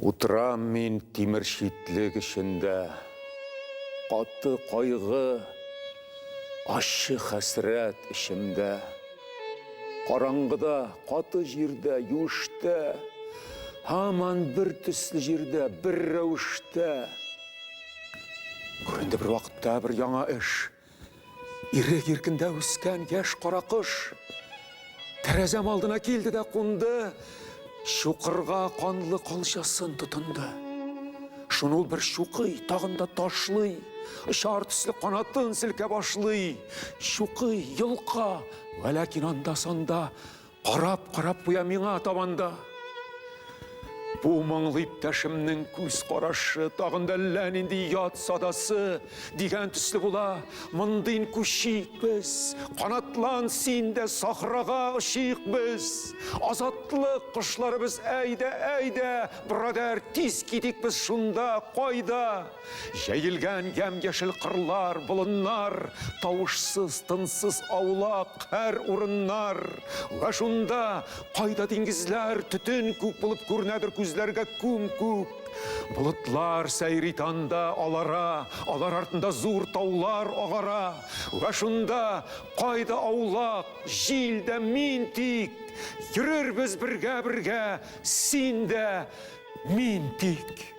Утырам мин тимер шитлек эчендә, Каты кайгы, ащы хәсрәт эчемдә. Караңгыда, каты җирдә, юштә, Һаман бер төсле җирдә, бер рәвештә. Күренде бер вакытта бер яңа эш. Ирек иркендә үскән яшь каракош. Тәрәзәм алдына килде дә кунды. Чукырга канлы калчасын тотынды. Шуны ул бер чукый, тагын да ташлый. Очар төсле канатын селкә башлый. Чукый, йолка, вәләкин анда-санда Карап, карап куя миңа табан да. Бу моңлы иптәшемнең күз карашы тагын да әллә нинди ят садасы дигән төсле була. Мондыйн күчик без, канатлан син дә сахрага очыйк без. Азатлык кошларыбыз, әйдә, әйдә, брадәр, тиз китик без шунда, кайда? Җәелгән ямь-яшел кырлар, болыннар, Тавышсыз, тынсыз аулак һәр урыннар. Вә шунда, кайда диңгезләр, төтен күк булып күренәдер күзләргә күм-күк. Болытлар сәйри танда алара, алар артында зур таулар агара. Вә шунда, кайда аулак, җил дә, мин тик. Йөрербез бергә-бергә, син дә, мин тик.